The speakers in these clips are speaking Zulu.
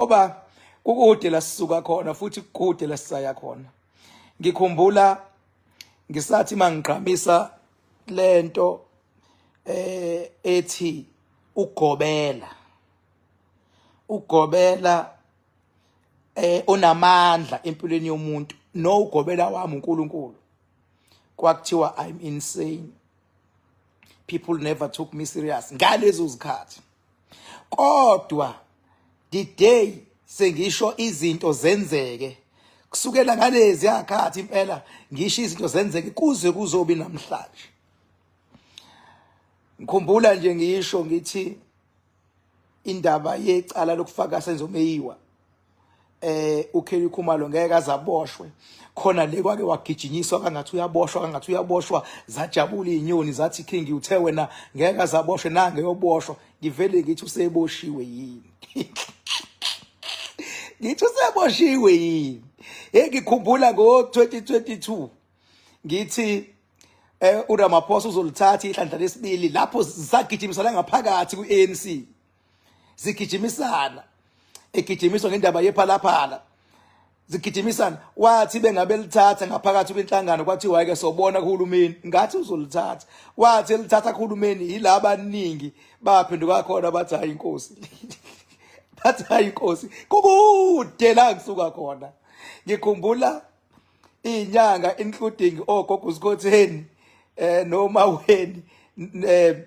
ngoba kukude la sisuka khona futhi kukude la sisaya khona ngikhumbula ngisathi mangigqamisa lento eh ethi ugobela ugobela eh unamandla empilweni yomuntu no ugobela wami uNkulunkulu kwakuthiwa i'm insane people never took me serious ngalezo zikhathi kodwa the day sengisho izinto zenzeke kusukela ngalezi yakhathi impela ngisho izinto zenzeke kuze kuzobi namhlanje ngikhumbula nje ngisho ngithi indaba yecala lokufaka senzomeyiwa eh uKelly Khumalo ngeke azaboshwe khona le kwake wagijinyiswa kangathi uyaboshwa kangathi uyaboshwa zajabula izinyoni zathi king uthe wena ngeke azaboshwe nange yoboshwa ngivele ngithi useboshiwe yini ngithi useboshiwe yini engikhumbula ngo 2022 ngithi eh uRamaphosa uzolithatha ihlandla lesibili lapho zisagijimisa la ngaphakathi ku ANC zigijimisana egijimiswa ngendaba yephalaphala zigijimisana wathi bengabe lithatha ngaphakathi kwinhlangano kwathiwa ke sobona kuhulumeni ngathi uzolithatha wathi elithatha kuhulumeni yilaba abaningi baphenduka khona bathi hayi inkosi bathi hayi inkosi kukude la ngisuka khona ngikhumbula inyanga including ogogo uSkotheni eh noma weni eh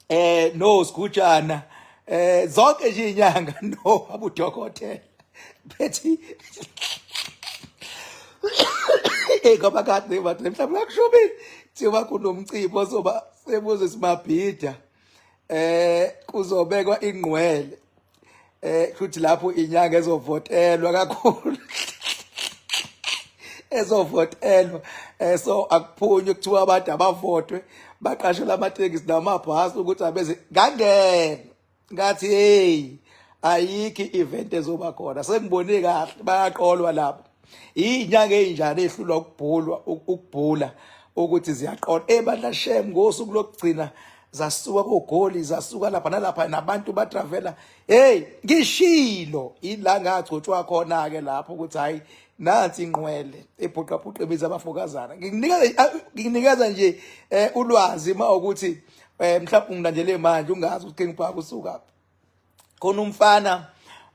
eh no sigujana eh zonke nje inyanga no abudokotela bethi eh ngoba kade bathi mhlawumbe akushubile thiwa kunomcimbi ozoba sebuze simabhida eh kuzobekwa ingqwele eh futhi lapho inyanga ezovotelwa kakhulu ezovotelwa eh so akuphunywe kuthiwa abantu abavotwe baqashela amatekisi namabhasi ukuthi abeze ngangena ngathi hey ayikho i-event ezoba khona sengibone kahle bayaqolwa lapho inyanga ezinjani ehlulwa ukubhulwa ukubhula ukuthi ziyaqola ebandla eh, shem ngosuku lokugcina zasuka kogoli zasuka lapha nalapha nabantu batravela hey ngishilo ila ngagcotshwa khona ke lapho ukuthi hayi nansi inqwele ebhuqabhuqa ebiza abafokazana ngikunikeza ngikunikeza nje eh, ulwazi uma ukuthi eh, mhlawumbe ungilandele manje ungazi ukuthi ngibhaka usukaphi khona umfana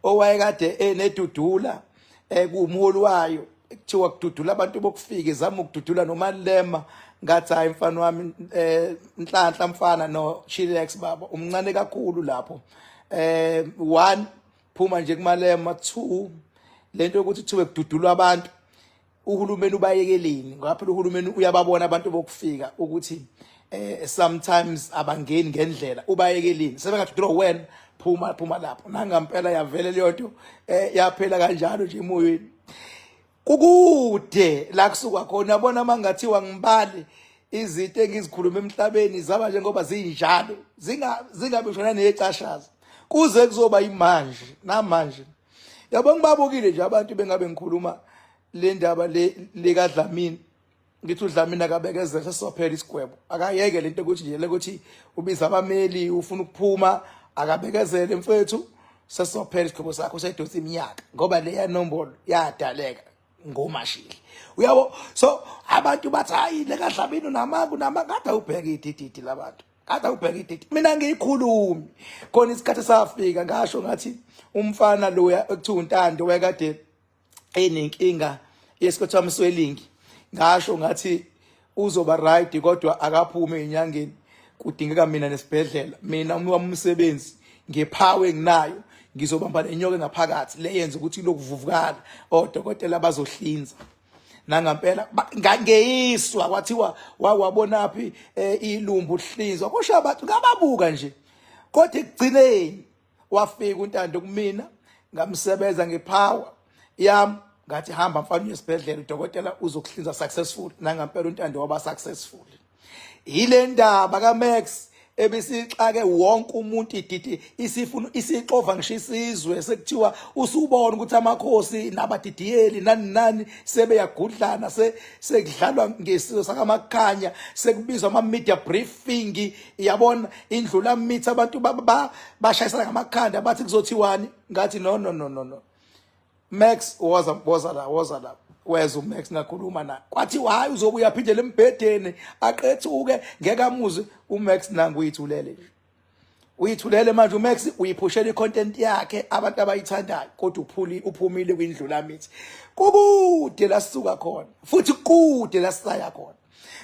owayekade enedudula ekuwumholi wayo kuthiwa kududula abantu bokufika izama ukududula nomalema ngathi hayi mfana wami eh nhlanhla mfana no chilex baba umncane kakhulu lapho eh one phuma nje kumalema two lento yokuthi kuthiwe kududulwa abantu uhulumeni ubayekeleni ngoba phela uhulumeni uyababona abantu bokufika ukuthi eh sometimes abangeni ngendlela ubayekeleni sebengathi draw when phuma phuma lapho nangampela yavele leyo nto eh yaphela kanjalo nje emoyeni kukude la kusuka khona yabona mangathiwa ngibale izinto engizikhuluma emhlabeni zaba njengoba zinjalo zinga zingabishona necashaza kuze kuzoba imanje namanje yabo ngibabukile nje abantu bengabe ngikhuluma le ndaba le likadlamini ngithi udlamini akabekezela sesophela isigwebo akayeke lento ukuthi nje lokuthi ubiza abameli ufuna ukuphuma akabekezele mfethu sesophela isigwebo sakho sedosi iminyaka ngoba leya nombolo yadaleka ngomashili uyabo so abantu bathi hayi lekadlamini unamaku namakade ubheke idididi labantu Kade ubheka idate. Mina ngiyikhulumi. Khona isikhathi safika ngasho ngathi umfana lo ekuthiwa uNtando wayekade enenkinga yesikhathi amswelingi. Ngasho ngathi uzoba right kodwa akaphume enyangeni. Kudingeka mina nesibhedlela. Mina umuntu wamsebenzi ngephawe enginayo ngizobamba lenyoka ngaphakathi leyenza ukuthi lokuvuvukala odokotela bazohlinza. nangampela ngangeyiswa kwathiwa wawabonaphi eh, ilumbu hlinzwa kusho abantu ngababuka nje kodwa ekugcineni wafika untando kumina ngamsebenza ngepower yam ngathi hamba mfana uyesibhedlela udokotela uzokuhlinza successful nangampela untando waba successful yile ndaba kaMax ebisixake wonke umuntu ididi isifuna isixova ngisho isizwe sekuthiwa usubona ukuthi amakhosi nabadidiyeli nani nani sebeyagudlana se sekudlalwa ngesizwe sakamakhanya sekubizwa ama media briefing yabona indlula mithi abantu bashayisana ngamakhanda bathi kuzothiwani ngathi no no no no no Max woza woza la woza la weza uMax ngakhuluma na kwathi hayi uzobuya phinde lembhedeni aqethuke ngeke amuze uMax nangu uyithulele uyithulele manje uMax uyiphushela icontent yakhe abantu abayithandayo kodwa uphuli uphumile kwindlula mithi kukude lasuka khona futhi kude lasaya khona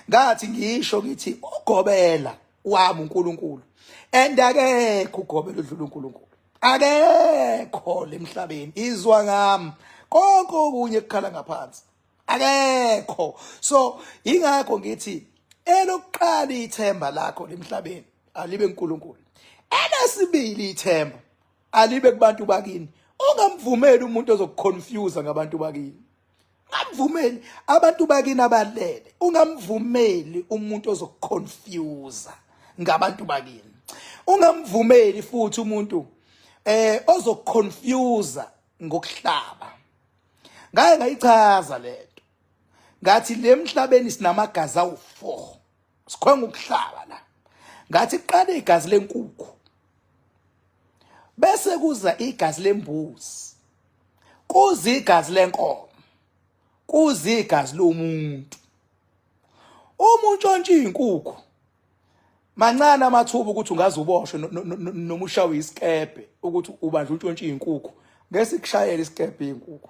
ngathi ngisho ngithi ugobela wami uNkulunkulu and akekho ugobela udlula uNkulunkulu akekho lemhlabeni izwa ngami konke okunye kukhala ngaphansi akekho so ingakho ngithi elokuqala ithemba lakho lemhlabeni alibe uNkulunkulu elesibili ithemba alibe kubantu bakini ungamvumeli umuntu ozokuconfuse ngabantu bakini Ngamvumeli abantu bakini abalele. Ungamvumeli umuntu ozokuconfuse ngabantu bakini. Ungamvumeli futhi umuntu eh ozokuconfuse ngokuhlaba. Ngaye ngayichaza lento. Ngathi lemhlabeni sinamagazi awu4. sikhwenga ukuhlaba la ngathi qala igazi lenkukhu bese kuza igazi lembuzi kuza igazi lenkomo kuza igazi lomuntu uma untshontsha izinkukhu mancane amathuba ukuthi ungaze uboshwe noma ushawe isikebhe ukuthi ubanje untshontsha izinkukhu ngesikushayela isikebhe izinkukhu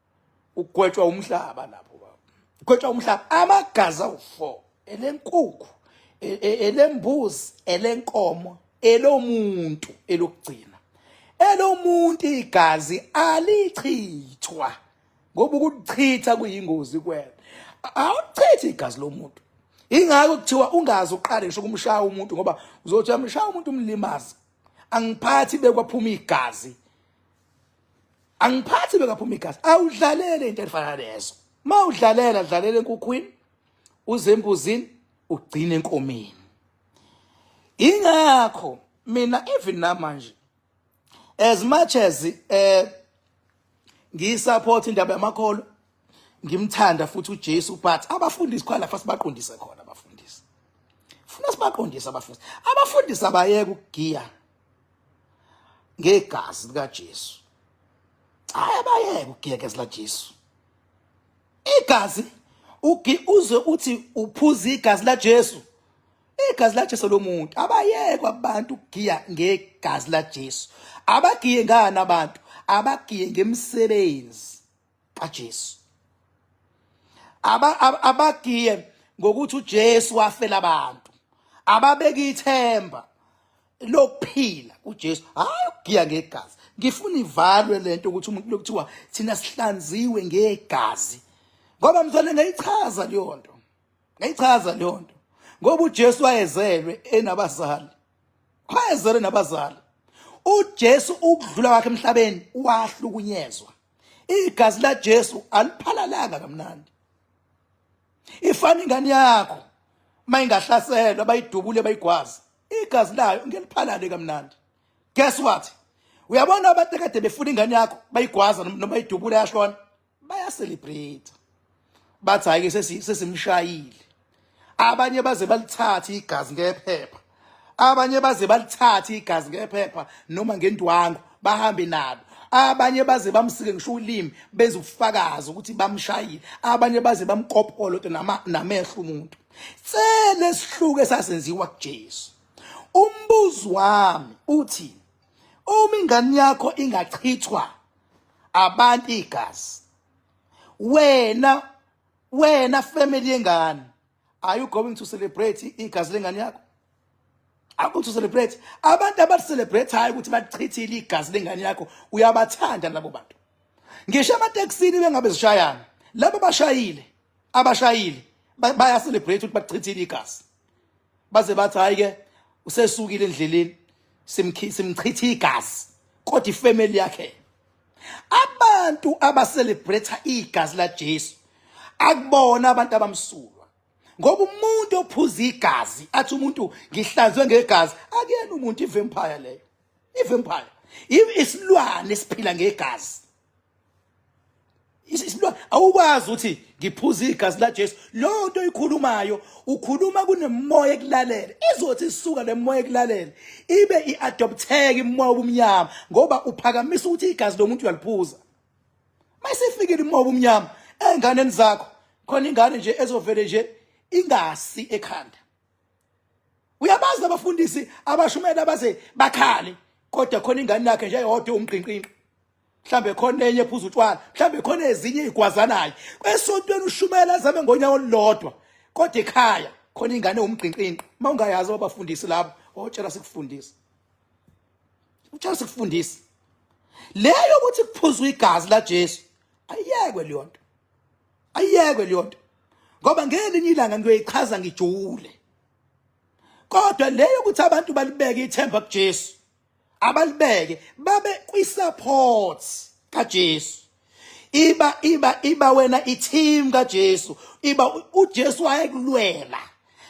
ugwetshwa umhlaba lapho baba ugwetshwa umhlaba amagazi awu-four elenkukhu e, e, elembuzi elenkomo elomuntu elokugcina elomuntu igazi alichithwa ngoba ukuchitha kuyingozi kuwena awuchithi igazi lomuntu ingakho kuthiwa ungazi uqale ngisho kumshaya umuntu ngoba uzothi amshaya umuntu umlimazi angiphathi bekwaphuma igazi angiphathi bekaphuma igazi awudlalele into efana lezo ma udlalela dlalela enkukhwini uzembuzini ugcine enkomeni ingakho mina even namanje as much as eh ngiyisupport indaba yamakholo ngimthanda futhi uJesu but abafundisi khona fast baqondise khona abafundisi funa sibaqondise abafundisi abafundisi abayeke ukugiya ngegazi likaJesu hayi abayeke ugekezela Jesu igazi ugi uze uthi uphuza igazi laJesu igazi laJesu lomuntu abayekwa abantu ugiya ngegazi laJesu abagiye ngani abantu abagiye ngemisebenzi kaJesu abagiye aba, ngokuthi uJesu wafela abantu ababeka ithemba lokuphila kuJesu hayi ugiya ngegazi ngifuna ivalwe lento ukuthi umuntu lokuthiwa thina sihlanziwe ngegazi ngoba mzwane ngayichaza leyo nto ngayichaza leyo nto ngoba uJesu wayezelwe enabazali wayezelwe nabazali uJesu ukudlula kwakhe emhlabeni wahlukunyezwa igazi laJesu aliphalalanga kamnandi ifana ingane yakho mayingahlaselwa bayidubule bayigwaza igazi layo ngeliphalale kamnandi guess what uyabona abantu ekade befuna ingane yakho bayigwaza noma idubule yashona bayacelebrate bathi hayi ke sesimshayile abanye baze balithathe igazi ngephepha abanye baze balithathe igazi ngephepha noma ngendwangu bahambe nalo abanye baze bamsike ngisho ulimi benza ubufakazi ukuthi bamshayile abanye baze bamkopolo to namehlo umuntu sele sihluke sasenziwa kuJesu umbuzo wami uthi uma ingane yakho ingachithwa abantu igazi wena wena family yengane are you going to celebrate igazi lengane yakho are going to celebrate abantu abathi celebrate hayi ukuthi bachithile igazi lengane yakho uyabathanda labo bantu ngisho amateksini bengabe zishayana labo bashayile abashayile baya celebrate ukuthi bachithile igazi baze bathi hayi ke usesukile endleleni simchitha igazi kodwa ifamily yakhe abantu abacelebrate igazi la Jesu akubona abantu abamsulwa ngoba umuntu ophuza igazi athi umuntu ngihlanzwe ngegazi akuyena umuntu ivampire leyo ivampire isilwane esiphila ngegazi awukwazi ukuthi ngiphuza igazi laJesu leyo nto oyikhulumayo ukhuluma kunemoya ekulalela izothi isuka lemoya ekulalela ibe iadopteka imoya obumnyama ngoba uphakamisa ukuthi igazi lomuntu uyaliphuza mayisefikile imoya obumnyama enganeni zakho khona ingane nje ezovele nje ingasi ekhanda uyabazi abafundisi abashumela baze bakhale kodwa khona ingane yakhe nje yodwa umqinqinqi mhlambe khona enye phuza utshwala mhlambe khona ezinye igwazanayo kwesontweni ushumela azame ngonyawo olulodwa kodwa ekhaya khona ingane umgqinqinqi uma ungayazi abafundisi labo wawutshela sikufundisa utshela sikufundisa leyo ukuthi kuphuzwa igazi laJesu ayekwe leyo nto ayekwe leyo nto ngoba ngelinye ilanga ngiyoyichaza ngijule kodwa leyo ukuthi abantu balibeke ithemba kuJesu abalibeke babe kwi-support kaJesu iba iba iba wena i-team kaJesu iba uJesu wayekulwela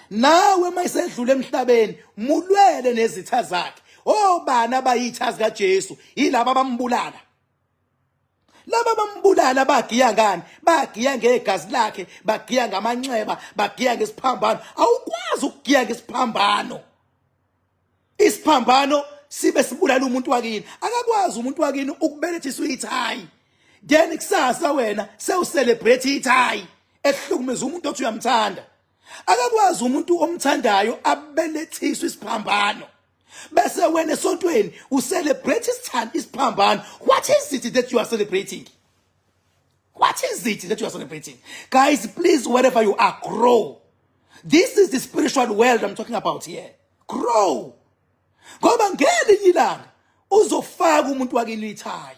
nawe mayisedlula emhlabeni mulwele nezitha zakhe obana oh, bayithazi kaJesu yilabo abambulala laba bambulala bagiya ngani bagiya ngegazi lakhe bagiya ngamanxeba bagiya ngesiphambano awukwazi ukugiya ngesiphambano isiphambano sibe sibulala umuntu wakini akakwazi umuntu wakini ukubelethisa ithayi then kusasa wena sewucelebrate ithayi ehlukumeza umuntu othi uyamthanda akakwazi umuntu omthandayo abelethiswe isiphambano bese wena esontweni ucelebrate isithanda isiphambano what is it that you are celebrating What is it that you are celebrating? Guys, please, wherever you are, grow. This is the spiritual world I'm talking about here. Grow. Ngoba ngelinye ilanga uzofaka umuntu wakini ithayi.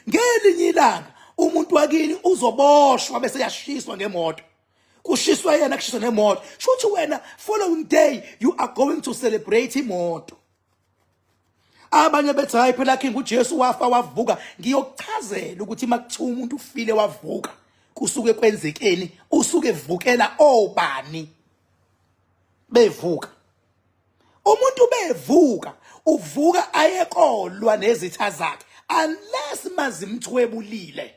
Ngelinye ilanga umuntu wakini uzoboshwa bese yashiswa ngemoto. Kushiswa yena kushiswa nemoto. Shuthi wena following day you are going to celebrate imoto. abanye bethi hayi phela king uJesu wafa wavuka ngiyokuchazela ukuthi makuthiwa umuntu ufile wavuka kusuke kwenzekeni usuke evukela obani bevuka umuntu bevuka uvuka ayekolwa nezitha zakhe unless mazimthwebulile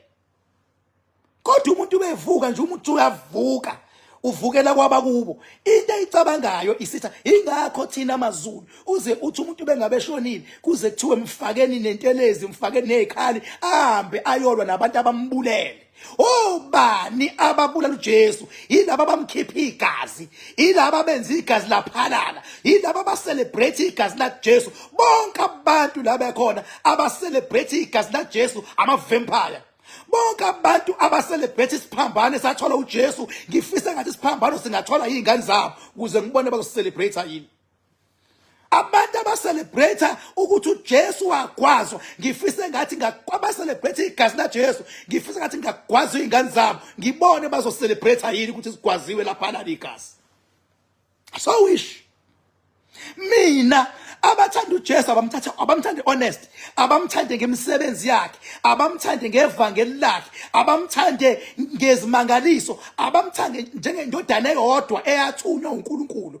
kodwa umuntu ubevuka nje umuntu uyavuka uvukela kwabakubo into eyicabangayo isitha ingakho thina amazulu uze uthi umuntu bengabe shonile kuze kuthiwe mfakeni nentelezi mfakeni nezikhali ahambe ayolwa nabantu abambulele obani ababulala uJesu yilabo abamkhipha igazi yilaba benza igazi laphalala yilaba abacelebrate igazi laJesu bonke abantu la bekhona abacelebrate igazi laJesu ama-vampire bonke abantu abacelebrate isiphambano esathola uJesu ngifisa ngathi isiphambano singathola iy'ngane zabo ukuze ngibone bazosicelebrate yini abantu abacelebrate ukuthi uJesu wagwazwa ngifise ngathi ngabacelebrate igazi laJesu ngifise ngathi ngagwazwa izingane zabo ngibone bazocelebrate yini ukuthi sigwaziwe lapha la ligazi so wish mina abathanda uJesu abamthathe abamthande honest abamthande ngemisebenzi yakhe abamthande ngevangeli lakhe abamthande ngezimangaliso abamthande njengendodana eyodwa eyathunywa uNkulunkulu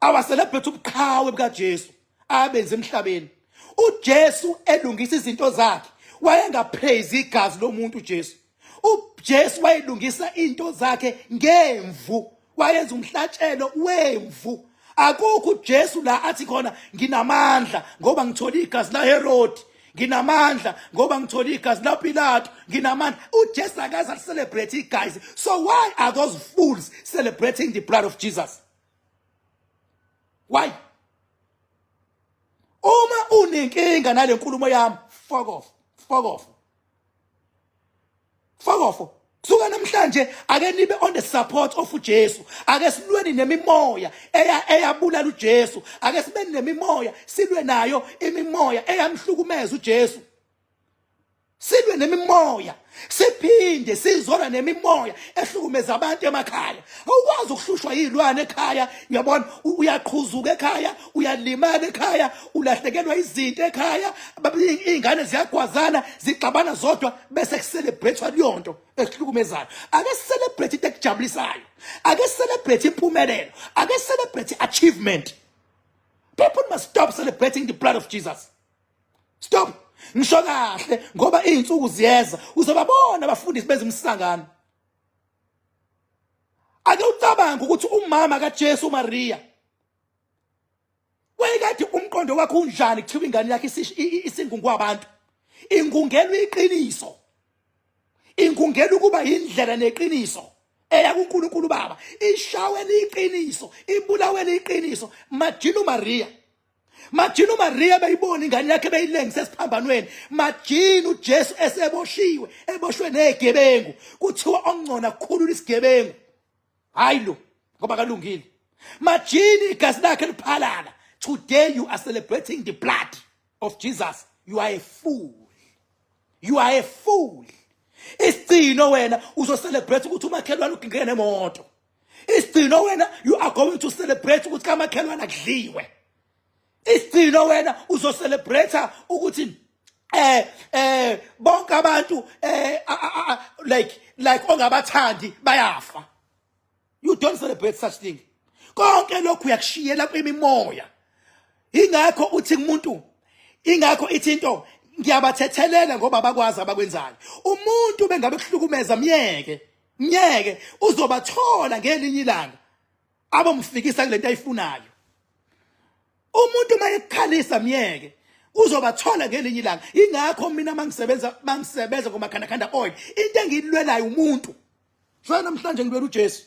awaselebhethe ubuqhawe bukaJesu abenze emhlabeni uJesu elungisa izinto zakhe wayengaphezi igazi lomuntu uJesu uJesu wayelungisa into zakhe ngemvu wayenza umhlatshelo wemvu akukho uJesu la athi khona nginamandla ngoba ngithola igazi la Herodi nginamandla ngoba ngithola igazi la Pilato nginamandla uJesu akaze celebrate igazi so why are those fools celebrating the blood of Jesus why uma unenkinga nale nkulumo yami fuck off fuck off fuck off kusuka namhlanje ake nibe on the support of uJesu ake silweni nemimoya eya eyabulala uJesu ake sibe nemimoya silwe nayo imimoya eyamhlukumeza uJesu silwe nemimoya siphinde sizona nemimoya ehlukumeza abantu emakhaya awukwazi ukuhlushwa yilwane ekhaya uyabona uyaqhuzuka ekhaya uyalimala ekhaya ulahlekelwa izinto ekhaya ingane ziyagwazana zigxabana zodwa bese kucelebrate leyonto ehlukumezayo ake celebrate into ekujabulisayo ake celebrate impumelelo ake celebrate achievement people must stop celebrating the blood of Jesus stop ngisho kahle ngoba izinsuku ziyeza uzobabona abafundisi benza umsangano ake ucabange ukuthi umama kaJesu uMaria wayekade umqondo wakhe unjani kuthiwa ingane yakhe isingungu abantu ingungelwa iqiniso ingungelwa ukuba indlela neqiniso eya kuNkulunkulu baba ishawe liqiniso ibulawe liqiniso majinu Maria majini umariya beyibona ingane yakhe beyilengise esiphambanweni majini ujesu eseboshiwe eboshwe negebengu kuthiwa ongcona kukhulula isigebengu hayi lo ngoba kalungile majini igazi lakhe liphalala today you are celebrating the blood of jesus you are a fool you are a fool isigcino wena uzocelebrate ukuthi umakhelwane ugingeke nemoto isigcino wena you are going to celebrate ukuthi kamakhelwana kudliwe isigcino wena uzocelebrate ukuthi eh eh bonke abantu eh like like ongabathandi bayafa you don't celebrate such thing konke lokhu uyakushiyela kwimimoya ingakho uthi kumuntu ingakho ithi into ngiyabathethelela ngoba bakwazi abakwenzayo umuntu bengabe kuhlukumeza myeke Myeke uzobathola ngelinye ilanga abomfikisa kulento ayifunayo. Umuntu uma ekukhalisa myeke uzobathola ngelinye ilanga. Ingakho mina mangisebenza mangisebenza ngomakhanda khanda oil into engilwelayo umuntu. Shaya namhlanje ngilwela uJesu.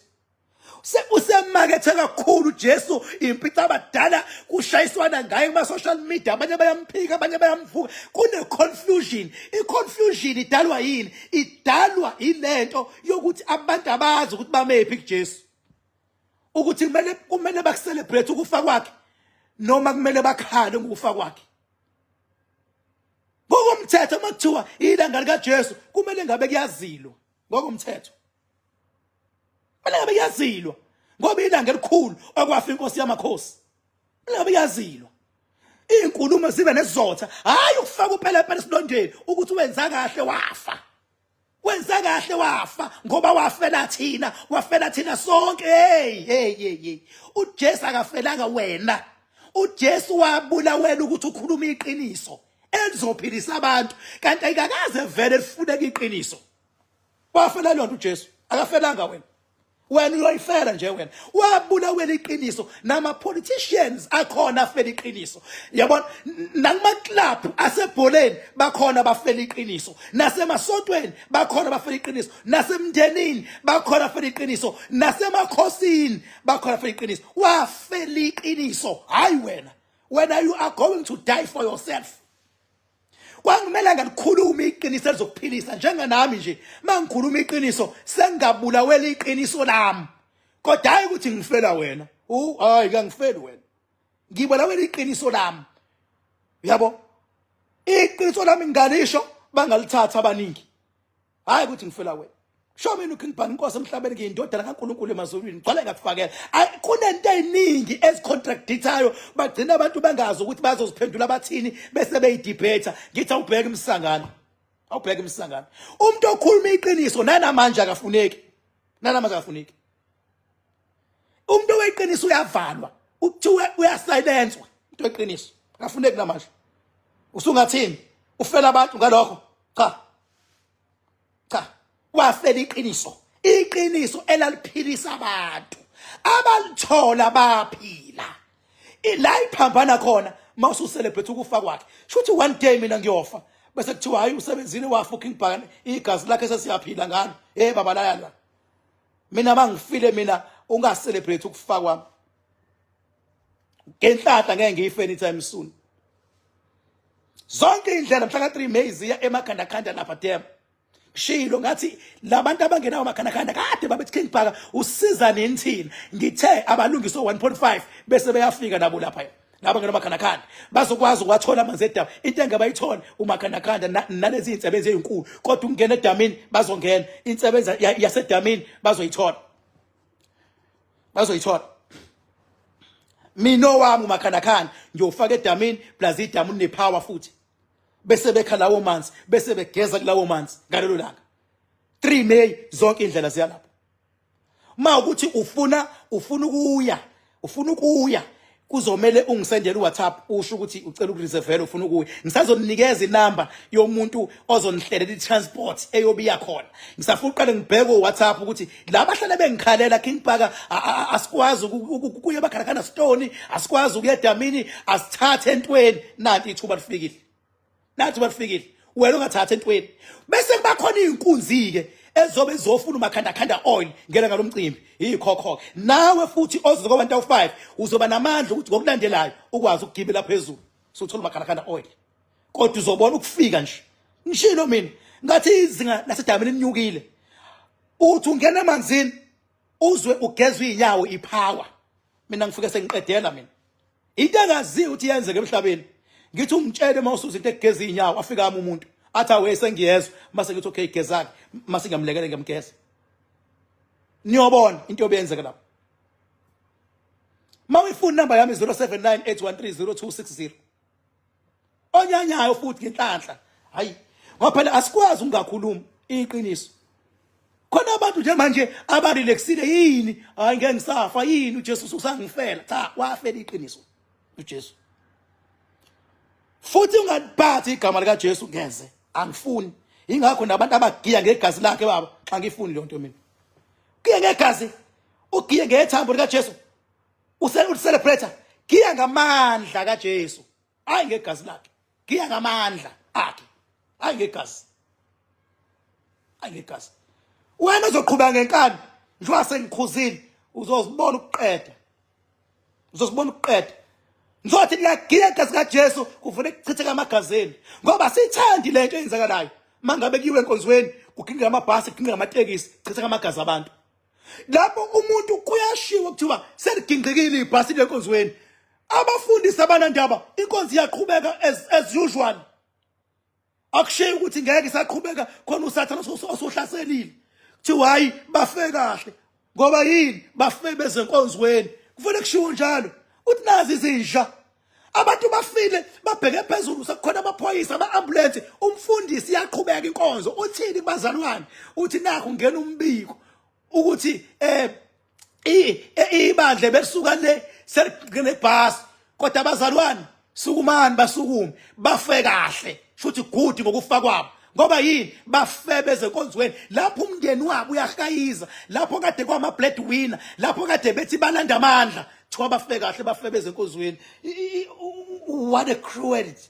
usemakethe kakhulu Jesu impitha abadala kushayiswana ngaye kuma social media abanye bayamphika abanye bayamvuka kune confusion i confusion idalwa yini idalwa ilento yokuthi abantu abazi ukuthi bamephi kuJesu ukuthi kumele kumele bakucelebrate ukufa kwakhe noma kumele bakhale ngokufa kwakhe ngokomthetho makuthiwa ilanga likaJesu kumele ngabe kuyazilwa ngokomthetho mina ngabe yazilwa ngoba ilanga elikhulu okwafa inkosi yamakhosi mina ngabe yazilwa izinkulumo zibe nesizotha hayi ukufaka uphela phela esilondeni ukuthi wenza kahle wafa wenza kahle wafa ngoba wafela thina wafela thina sonke hey hey hey uJesu akafelanga wena uJesu wabulawela ukuthi ukhuluma iqiniso elizophilisa abantu kanti ayikakaze vele lifuneka iqiniso wafela lonto uJesu akafelanga wena wena uyoyifela nje wena wabulawela iqiniso nama politicians akhona afela iqiniso yabona nakuma club asebholeni bakhona bafela iqiniso nasemasontweni bakhona bafela iqiniso nasemndenini bakhona bafela iqiniso nasemakhosini bakhona bafela iqiniso wafela iqiniso hayi wena wena you are going to die for yourself kwangimele ngalikhulume iqiniso elizokuphilisa njenganami nje mangikhuluma iqiniso sengabulawela iqiniso lami kodwa hayi ukuthi ngifela wena u hayi kangifeli wena ngibulawela iqiniso lami yabo iqiniso lami ngalisho bangalithatha abaningi hayi ukuthi ngifela wena show mina uking bani inkosi emhlabeni ngiyindodana kaNkulunkulu emazulwini gcwale ngakufakela kunento eziningi ezicontradictayo bagcina abantu bengazi ukuthi bazoziphendula bathini bese beyidebate ngithi awubheke imsangano awubheke imsangano umuntu okhuluma iqiniso nanamanje akafuneki nanamanje akafuneki umuntu oweqiniso uyavalwa ukuthiwa uyasilenswa into eqiniso akafuneki namanje usungathini ufela abantu ngalokho cha cha wafela iqiniso iqiniso elaliphilisa abantu abalithola baphila ila iphambana khona mawusu celebrate ukufa kwakhe shuthi one day mina ngiyofa bese kuthiwa hayi usebenzini wa fucking bhakane igazi lakhe sesiyaphila ngalo hey baba lala mina mangifile mina unga celebrate ukufa kwami ngenhlahla ngeke ngiyife anytime soon zonke indlela mhla ka-3 may ziya emakhandakhanda lapha dem shilo ngathi labantu abangenawo makhandakhanda kade babethi king bhaka usiza nini thina ngithe abalungise 1.5 bese beyafika nabo lapha laba ngena makhandakhanda bazokwazi ukwathola amanzi edamu into engabayitholi umakhandakhanda nalezi insebenzi ezinkulu kodwa ukungena edamini bazongena insebenza yasedamini bazoyithola bazoyithola mina owami umakhandakhanda ngiyofaka edamini plus idamu linepower futhi bese bekha lawo manzi bese begeza kulawo manzi ngalelo langa 3 May zonke indlela ziyalapha uma ukuthi ufuna ufuna ukuya ufuna ukuya kuzomele ungisendele uWhatsApp usho ukuthi ucela ukureservela ufuna ukuya ngisazonikeza inamba yomuntu ozonihlelela itransport eyobiya khona ngisafuna uqale ngibheke uWhatsApp ukuthi la bahlale bengikhalela King Parker asikwazi ukuya bakhalakana stone asikwazi ukuya damini asithathe entweni nanti ithuba lifikile nathi bafikile wena ungathatha entweni bese kubakhona izinkunzi ke ezobe zofuna umakhanda khanda oil ngena ngalomcimbi yikhokho nawe futhi ozoze kwabantu awu5 uzoba namandla ukuthi ngokulandelayo ukwazi ukugibela phezulu suthola umakhanda khanda oil kodwa uzobona ukufika nje ngishilo mina ngathi izinga lasedamini linyukile uthi ungena emanzini uzwe ugezwe inyawo ipower mina ngifike sengiqedela mina into engaziyo ukuthi yenzeke emhlabeni ngithi ungitshele uma usuza into egeza izinyawo afika ama umuntu athi awe sengiyezwa mase ngithi okay gezake mase ngiyamlekele ngiyamgeza niyobona into obeyenzeka lapho mawifuna number yami 0798130260 onyanyayo futhi ngenhlanhla hayi ngoba phela asikwazi ungakhuluma iqiniso khona abantu nje manje abarelaxile yini hayi ngeke ngisafa yini uJesu usangifela cha wafela iqiniso uJesu futhi ungaliphathi igama lika Jesu ngeze angifuni ingakho nabantu abagiya ngegazi lakhe baba xa ngifuni le nto mina kuye ngegazi ugiye ngethambo lika Jesu ucelebrate giya ngamandla kaJesu hayi ngegazi lakhe giya ngamandla akhe hayi ngegazi hayi ngegazi wena uzoqhuba ngenkani njengoba sengikhuzile uzozibona ukuqeda uzozibona ukuqeda ngizothi niyagiya igazi kaJesu kuvune kuchitheka amagazini ngoba sithandi lento eyenzakalayo mangabe kuyiwe enkonzweni kugingqa amabhasi kugingqa amatekisi chitheka amagazi abantu lapho umuntu kuyashiwo kuthiwa seligingqikile ibhasi lenkonzweni abafundisi abanandaba inkonzi iyaqhubeka as, as usual akushiye ukuthi ngeke isaqhubeka khona usathana osohlaselile kuthiwa hhayi bafe kahle ngoba yini bafe bezenkonzweni kufanele kushiwo njalo uthi nazi izinja abantu bafile babheke phezulu sekukhona amaphoyisa ama-ambulensi umfundisi iyaqhubeka inkonzo uthini kubazalwane uthi nakho ngena umbiko ukuthi um ibandla belisuka le selinebhasi kodwa abazalwane sukumani basukume bafe kahle futhi good ngokufa kwabo ngoba yini bafebe ezenkonzweni lapho umndeni wabo uyahayiza lapho kade kwama-bread winner lapho kade bethi balanda amandla Thiwa bafe kahle bafebeze enkozweni. What a cruelty.